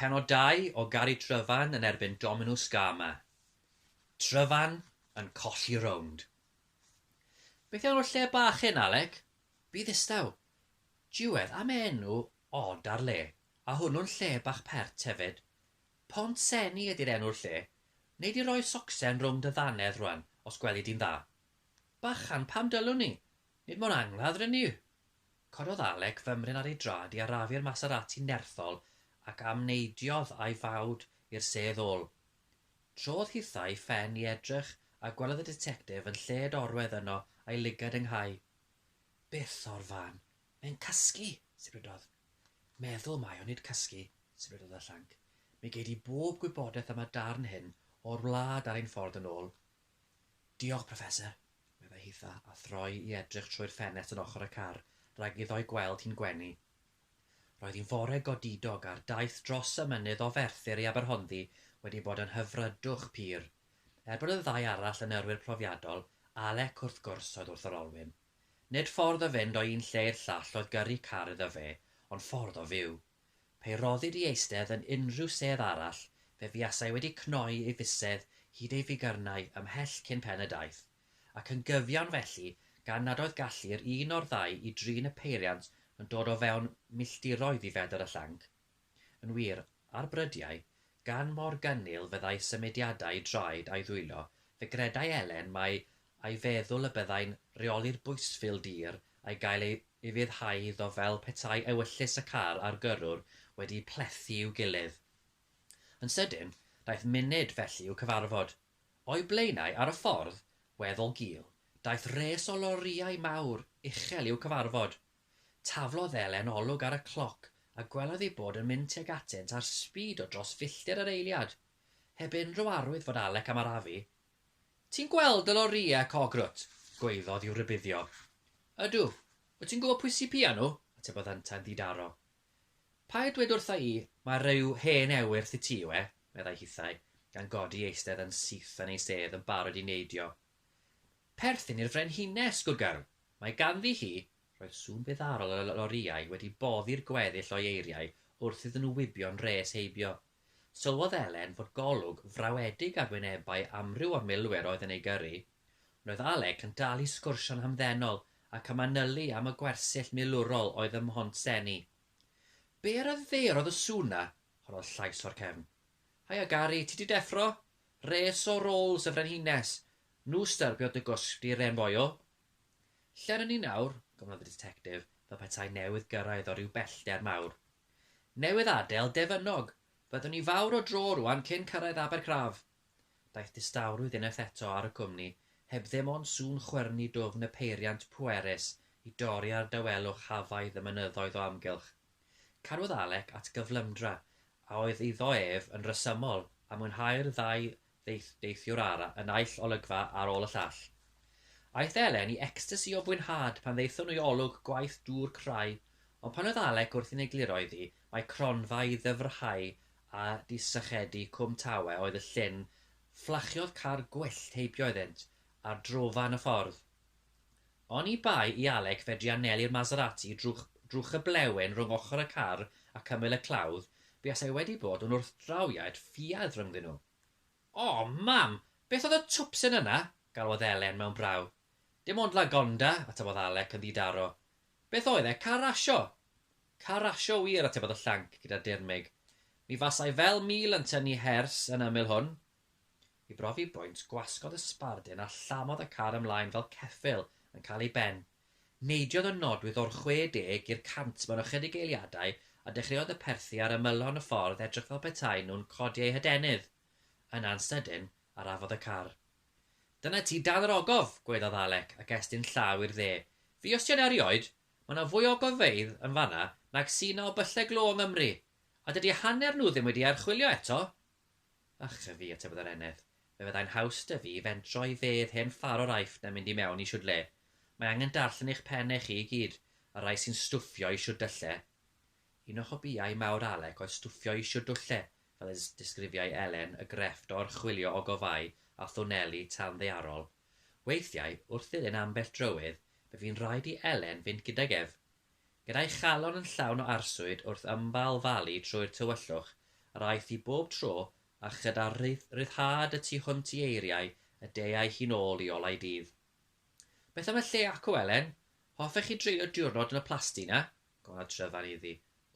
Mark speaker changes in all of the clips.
Speaker 1: Penodau o Gari Tryfan yn erbyn Dominws Gama. Tryfan yn colli rownd. Beth yw'r lle bach hyn, Alec? Fi ddistaw. Diwedd am enw od ar le, a hwnnw'n lle bach pert hefyd. Pont Seni ydi'r enw'r lle. Wnei di roi socsen rownd dy ddannedd rwan, os gweli di'n dda. Bachan, pam dylwn i? Nid mor angladd rŷn ni. Cododd Alec fymryn ar ei drad i arafu'r Maserati nerthol ac amneidiodd a'i fawd i'r sedd ôl. Trodd hithau'i phen i edrych a gwelodd y ditectif yn lled orwedd yno a'i lygad yng nghau. Byth o'r fan! Mae'n cysgu! sibrydodd. Meddwl mae o, nid cysgu, sibrydodd y llanc. Mi gei di bob gwybodaeth am y darn hyn o'r wlad ar ein ffordd yn ôl. Diolch, Professor, meddai Hitha, a throi i edrych trwy'r ffenest yn ochr y car, rhag iddo ei gweld hi'n gwenu. Roedd hi'n fore godidog, a'r daith dros y mynydd o Ferthyr i Aberhonddu wedi bod yn hyfrydwch pur. Er bod y ddau arall yn yrwyr profiadol, Alec wrth gwrs oedd wrth yr olwyn. Nid ffordd o fynd o un lle i'r llall oedd gyrru car iddo fe, ond ffordd o fyw. Pe roddid i eistedd yn unrhyw sedd arall, fe fuasai wedi cnoi ei fusedd hyd ei figyrnau ymhell cyn pen y daith, ac yn gyfiawn felly, gan nad oedd gallu'r un o'r ddau i drin y peiriant yn dod o fewn milltiroedd i fedr y llanc. Yn wir, ar brydiau, gan mor gynnil fyddai symudiadau draed a'i ddwylo, fe gredai Elen mai a'i feddwl y byddai'n rheoli'r bwysfil dir a'i gael ei ufuddhau iddo fel petai ewyllys y car a'r gyrrwr wedi plethu i'w gilydd. Yn sydyn, daeth munud felly i'w cyfarfod. O'i blaenau, ar y ffordd, weddol gul, daeth res o lorïau mawr uchel i'w cyfarfod. Taflodd Elen olwg ar y cloc a gwelodd ei bod yn mynd tuag atynt ar sbîd o dros filltir yr eiliad. Heb unrhyw arwydd fod Alec am arafu, Ti'n gweld y lorïau cog rwt? gwaeddodd i'w rhybuddio. Ydw. Wyt ti'n gwybod pwy sy' piau nhw? atebodd yntau'n ddi-daro. Paid dweud wrtha i mai rhyw hen ewyrth i ti yw e, meddai hithau, gan godi eistedd yn syth yn ei sedd yn barod i neidio. Perthyn i'r frenhines, gwrgarwr. Mae ganddi hi Roedd sŵn feddarol y lorïau wedi boddi'r gweddill o'i eiriau wrth iddyn nhw wibio'n rhes heibio. Sylwodd Elen fod golwg frawedig ar wynebau amryw o'r milwyr oedd yn ei gyrru. Roedd Alec yn dal i sgwrsio'n hamddenol ac yn manylu am y gwersyll milwrol oedd ym Mhont Seni. Be' ryfedderodd y sŵn 'na? Rhoddodd llais o'r cefn. Haia Gari, ti 'di deffro? Res o rolls y frenhines. Nhw styrbio dy gwsg di, Ren Royal. Lle rŷn ni nawr? gofynnodd y Ditectif, fel petai newydd gyrraedd o ryw bellder mawr. Newydd adael Defynnog! Roeddwn ni fawr o dro rŵan cyn cyrraedd Abercraf! Daeth distawrwydd unwaith eto ar y cwmni, heb ddim ond sŵn chwyrnu dwfn y peiriant pwerus i dorri ar dawelwch hafaidd y mynyddoedd o amgylch. Cadwodd Alec at gyflymdra a oedd iddo ef yn resymol a mwynhau'r ddau Daeth deithiwr ara y naill olygfa ar ôl y llall. Aeth Elen i ecstasi o fwynhad pan ddaethon nhw i olwg gwaith dŵr crai, ond pan oedd Alec wrthi'n egluro iddi mai cronfa i ddyfrhau a disychedu Cwm Tawe oedd y llyn, fflachiodd car gwyllt heibio iddynt ar drofan y ffordd. Oni bai i Alec fedru anelu'r Maserati drwch drwch y blewyn rhwng ochr y car ac ymyl y clawdd, buasai wedi bod yn wrthdrawiad ffiaidd rhyngddyn nhw. O! Mam! Beth oedd y twpsyn yna? galwodd Elen mewn braw. Dim ond Lagonda, atebodd Alec yn ddi-daro. Beth oedd e, car rasio? Car rasio wir, atebodd y llanc gyda dirmyg. Mi fasai fel mil yn tynnu hers yn ymyl hwn, I brofi bwynt, gwasgodd y sbardun a llamodd y car ymlaen fel ceffyl yn cael ei ben. Neidiodd y nodwydd o'r 60 i'r 100 mewn ychydig eiliadau a dechreuodd y perthi ar ymylon y ffordd edrych fel petaen nhw'n codi eu hadenydd. Yna'n sydyn, arafodd y car. Dyna ti dan yr ogof! gwaeddodd Alec ac estyn llaw i'r dde. Fi os ti yn erioed! Mae 'na fwy o ogofeydd yn fan'na nag sy' 'na o byllau glo yng Nghymru! A dydy hanner nhw ddim wedi ei archwilio eto! A chre fi, atebodd yr eneth, fe fyddai'n haws 'da fi fentro i fedd hen Ffarwr Aifft na mynd i mewn i shwd le. Mae angen darllen eich penne chi i gyd, y rhai sy'n stwffio i shwd dylle. Un o hobïau mawr Alec oedd stwffio i shwd dwlle, fel y disgrifiai Elen, y grefft o orchwilio ogofâu a thwneli tanddaearol. Weithiau, wrth ddilyn ambell drywydd, fe fu'n rhaid i Elen fynd gydag ef Gyda'i chalon yn llawn o arswyd wrth ymbalfalu trwy'r tywyllwch, yr aeth hi bob tro, a chyda rhyddhad y tu hwnt i eiriau y de aeth hi'n ôl i olau dydd. Beth am y lle acw, Elen? Hoffech chi dreulio diwrnod yn y plasty 'na? gofynnodd Tryfan iddi,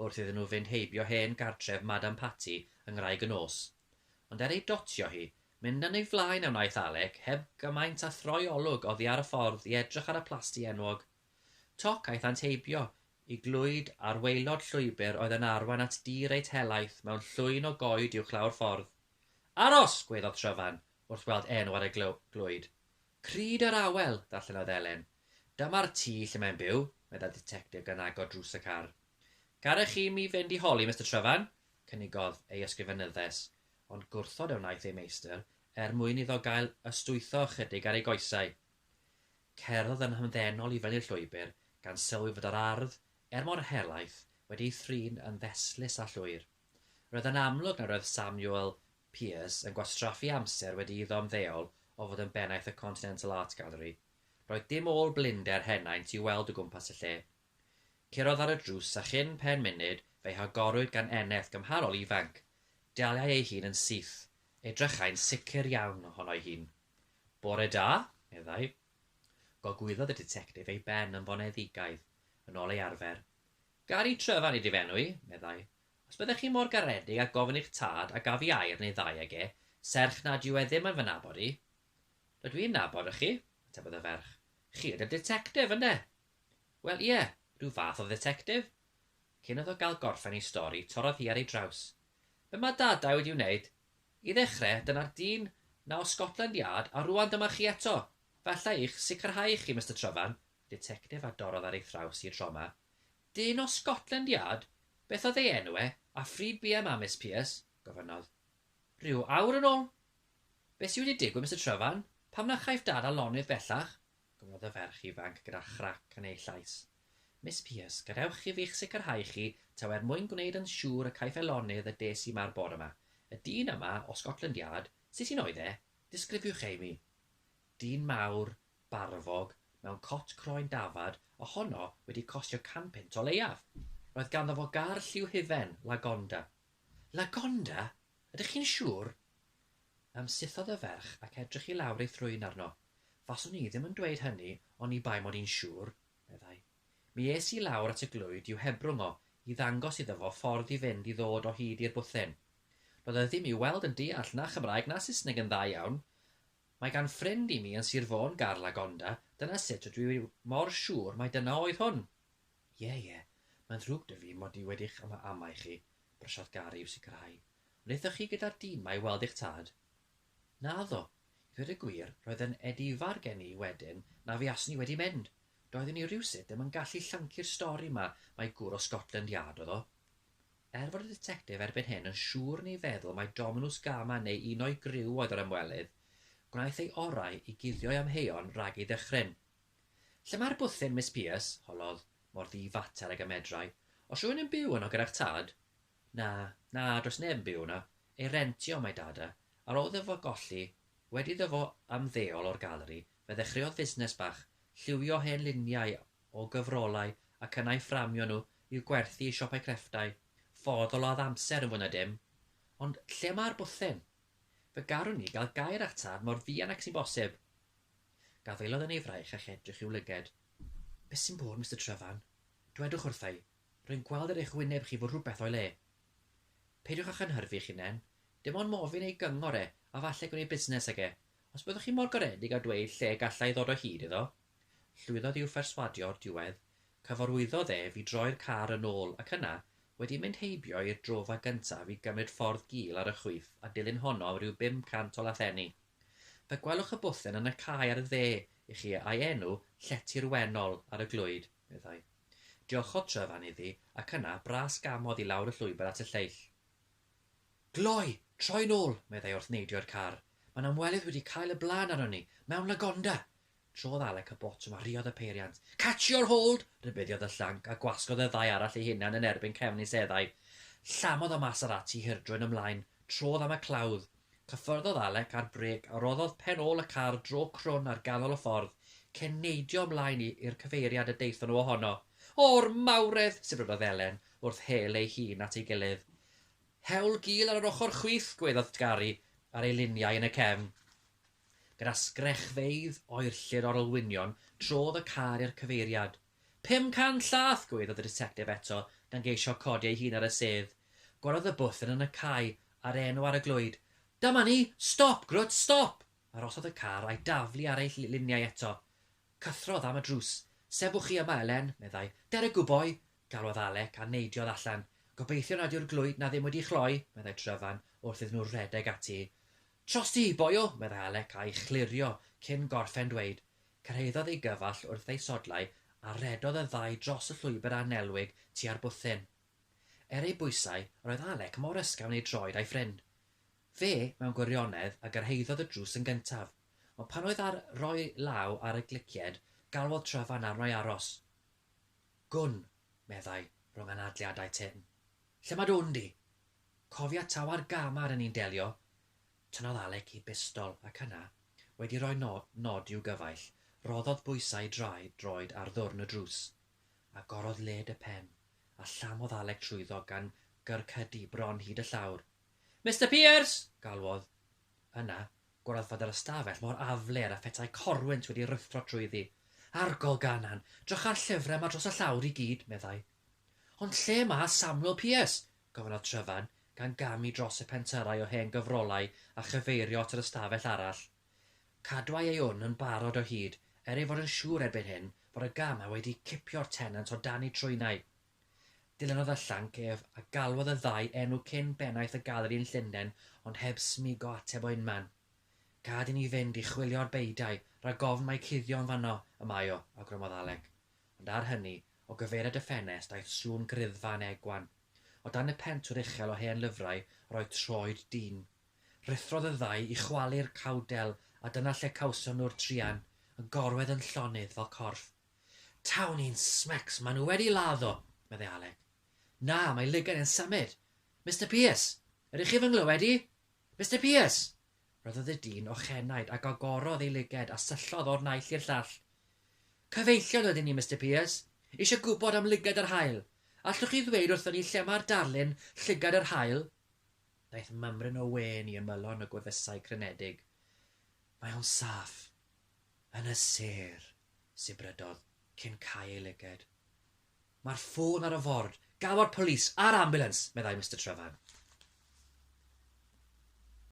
Speaker 1: wrth iddyn nhw fynd heibio hen gartref Madam Patti yng Ngwraig y Nos. Ond er ei dotio hi, mynd yn ei flaen a wnaeth Alec, heb gymaint â throi olwg oddi ar y ffordd i edrych ar y plasty enwog. Toc aethant heibio i glwyd ar waelod llwybr oedd yn arwain at dŷ reit helaeth mewn llwyn o goed uwch law'r ffordd. Aros! gwaeddodd Tryfan, wrth weld enw ar y glwyd. Crud yr Awel! ddarllenodd Elen. Dyma'r tŷ lle mae'n byw, meddai'r Dditectif gan agor drws y car. Garech chi mi fynd i holi Mister Tryfan? cynigodd ei ysgrifenyddes, ond gwrthod a wnaeth ei meistr, er mwyn iddo gael ystwytho ychydig ar ei goesau. Cerddodd yn hamddenol i fyny'r llwybr, gan sylwi fod yr ardd, er mor helaeth, wedi ei thrin yn ddestlus a llwyr. Roedd yn amlwg nad oedd Samuel Pearse yn gwastraffu amser wedi iddo ymddeol o fod yn bennaeth y Continental Art Gallery. Roedd dim ôl blinder henaint i'w weld o gwmpas y lle. Curodd ar y drws a chyn pen munud fe'i hagorwyd gan eneth gymharol ifanc. Daliai ei hun yn syth. Edrychai'n sicr iawn ohono'i hun. Bore da, meddai. Gogwyddodd y ditectif ei ben yn foneddigaidd, yn ôl ei arfer. Gary Trevan ydi fy enw i, meddai. Os byddech chi mor garedig â gofyn i'ch tad a gaf i air neu ddau ag e, serch nad yw e ddim yn fy nabod i. Rydw i'n nabod chi, atebodd y ferch. Chi ydi'r ditectif, ynde? Wel, ie, rhyw fath o dditectif. Cyn iddo gael gorffen ei stori, torrodd hi ar ei draws. Be mae dadau wedi wneud? I ddechrau, dyna'r dyn 'na o Scotland Yard, a rŵan dyma chi eto! Falla eich sicrhau chi, Mister Tryfan, y ditectif a dorrodd ar ei thraws hi tro 'ma. Dyn o Scotland Yard? Beth oedd ei enw e, a phryd buom â Miss Pierce? gofynnodd. Rhyw awr yn ôl. Be sy wedi digwydd, Mister Tryfan? Pam na chaiff Dad â lonydd bellach? Gwelodd y ferch ifanc gyda chrac yn ei llais. Miss Pierce, gadewch i fi'ch sicrhau chi, taw er mwyn gwneud yn siŵr y caiff e lonydd y des i 'ma'r bore 'ma. Y dyn yma, o Scotland Yard, sut un oedd e? Disgrifiwch e i mi. Dyn mawr, barfog, mewn cot croen dafad, ohono wedi costio can punt o leiaf. Roedd ganddo fo gar lliw hufen, Lagonda. Lagonda? Ydych chi'n siŵr? Ymsythodd y ferch ac edrych i lawr ei thrwyn arno. Faswn i ddim yn dweud hynny oni bai mod i'n siŵr, meddai. Mi es i lawr at y glöyd i'w hebrwng o, i ddangos iddo fo ffordd i fynd i ddod o hyd i'r bwthyn. Doedd o ddim i'w weld yn deall na Chymraeg na Saesneg yn dda iawn. Mae gan ffrind i mi yn Sir Fôn gar Lagonda, dyna sut ydw i mor siŵr mai dyna oedd hwn. Ie, ie, mae'n ddrwg 'da fi mod i wedi'ch am-amau chi, Brosiad garu yw sicrhau. Wnaethoch chi gyda'r dimau i weld eich tad? Naddo. I ddweud y gwir, roedd yn edifar gen i wedyn na fuaswn i wedi mynd. Doeddwn i rywsut ddim yn gallu llyncu'r stori 'ma mai gŵr o Scotland Yard oedd o. Er fod y ditectif erbyn hyn yn siŵr neu feddwl mai Dominws Gama neu un o'i griw oedd yr ymwelydd, gwnaeth ei orau i guddio'i amheuon rhag ei ddychryn. Lle mae'r bwthyn, Miss Pierce? holodd, mor ddi-fater ag y medrai. Oes rhywun yn byw yno gyda'ch tad? Na, na, does neb yn byw yno. Ei rentio mae dad e. Ar ôl iddo fo golli, wedi iddo fo ymddeol o'r galeri, fe ddechreuodd fusnes bach, lliwio hen luniau o gyfrolau ac yna'u fframio nhw i'w gwerthu i siopau crefftau. Ffodd o ladd amser yn fwy na dim. Ond lle mae'r bwthyn? Fe garwn ni gael gair â'ch tad mor fuan ag sy'n bosib. Gafaelodd yn ei fraich a'ch edrych i'w lyged. Beth sy'n bod, Mister Trefarn? Dwedwch wrtha i. Rwy'n gweld ar eich wyneb chi fod rhywbeth o'i le. Peidiwch â chynhyrfu eich hunain. Dim ond mofyn ei gyngor e, a falle gwneud busnes ag e. Os byddwch chi mor garedig â dweud lle galla i ddod o hyd iddo. Llwyddodd i'w pherswadio o'r diwedd. Cyfarwyddodd e fi droi'r car yn ôl, ac yna, wedi mynd heibio i'r drofa gyntaf i gymryd ffordd gul ar y chwith a dilyn honno am ryw bum cant o lathenni, Fe gwelwch y bwthyn yn y cae ar y dde i chi a'i enw Llety'r Wennol ar y glwyd, meddai. Diolchodd Tryfan iddi ac yna bras gamodd i lawr y llwybr at y lleill. Gloi! Troi'n ôl! meddai wrth neidio i'r car. Mae'n amwelydd wedi cael y blaen arnon ni, mewn lagonda! Trodd Alec y botwm a rhuodd y peiriant. Catch your hold! rhybuddiodd y llanc, a gwasgodd y ddau arall eu hunain yn erbyn cefn ei seddau. Llamodd y masar ati hirdrwy'n ymlaen, trodd am y clawdd. Cyffyrddodd Alec ar brêc a roddodd pen ôl y car dro crwn ar ganol y ffordd, cyn neidio ymlaen i i'r cyfeiriad y daethon nhw ohono. O'r mawredd! sibrydodd Elen, wrth hel eu hun at ei gilydd. Hewl gul ar yr ochr chwith! gwaeddodd tgaru ar ei liniau yn y cefn. Gyda sgrechfeydd oerllyd o'r olwynion, trodd y car i'r cyfeiriad. Pum can llath! gwaeddodd y Ditectif eto, gan geisio codi ei hun ar y sedd. Gwellodd y bwthyn yn y cae, a'r enw ar y glwyd. Dyma ni! Stop, grwt, stop! Arhosodd y car a'i daflu ar ei liniau eto. Cythrodd am y drws. Sefwch chi yma, Elen, meddai. Der y gwboi! galwodd Alec, a neidiodd allan. Gobeithio nad yw'r glwyd 'na ddim wedi chloi, meddai Tryfan, wrth iddyn nhw redeg ati. Trosti, boio! meddai Alec a'i chlirio cyn gorffen dweud. Cyrhaeddodd ei gyfall wrth ei sodlau a rhedodd y ddau dros y llwybr annelwig tua'r bwthyn. Er ei bwysau, roedd Alec mor ysgafn ei droed a'i ffrind. Fe, mewn gwirionedd, a gyrhaeddodd y drws yn gyntaf, ond pan oedd ar roi law ar y glicied, galwodd Tryfan arno i aros. Gwn, meddai, rhwng anadliadau tynn. Lle mae dy wn di? Cofia tawa'r gam a ry'n ni'n delio? Tynnodd Alec i bistol ac yna, wedi rhoi nod i'w gyfaill, rhoddodd bwysau i draed droed ar ddwrn y drws. Agorodd led y pen, a llamodd Alec trwyddo gan gyrcydu bron hyd y llawr. Mister Pierce! galwodd. Yna, gwelwyd fod yr ystafell mor afler a phetai corwynt wedi ruthro trwyddi. Argol Ganan! Drycha'r llyfrau 'ma dros y llawr i gyd, meddai. Ond lle mae Samuel Pierce? Gofynnodd Tryfan, gan gamu dros y pentyrrau o hen gyfrolau a chyfeirio at yr ystafell arall. Cadwai ei wn yn barod o hyd, er ei fod yn siŵr erbyn hyn fod y gamau wedi cipio'r tenant o dan ei trwynau. Dilynodd y llanc ef, a galwodd y ddau enw cyn bennaeth y gallery yn Llundain ond heb smygo ateb o unman. Gad i ni fynd i chwilio'r beudai, rhag ofn mai cuddio'n fanno y mae o, awgrymodd Alec. Ond ar hynny, o gyfeiriad y ffenest aeth sŵn griddfa yn egwan. O dan y pentwr uchel o hen lyfrau yr oedd troed dyn. Rhuthrodd y ddau i chwalu'r cawdel a dyna lle cawson nhw'r truan, yn gorwedd yn llonydd fel corff. Tawn i'n smecs, maen nhw wedi laddo! meddai Alec. Na, mae lugain yn symud! Mister Pierce! Ydych chi fy nghlywed i? Mister Pierce! Rhoddodd y dyn ochenaid ac agorodd ei lyged a syllodd o'r naill i'r llall. Cyfeillion ydyn ni, Mister Pearce. Eisiau gwybod am lyged yr haul. Allwch chi ddweud wrthon ni lle mae'r darlun Llygad yr Haul? Daeth mymryn o wên i ymylon y gwefusau crynedig. Mae o'n saff. Yn y sêr, sibrydodd, cyn cau ei lyged. Mae'r ffôn ar y ford. Galw'r polis a'r ambiwlans, meddai Mister Trevan.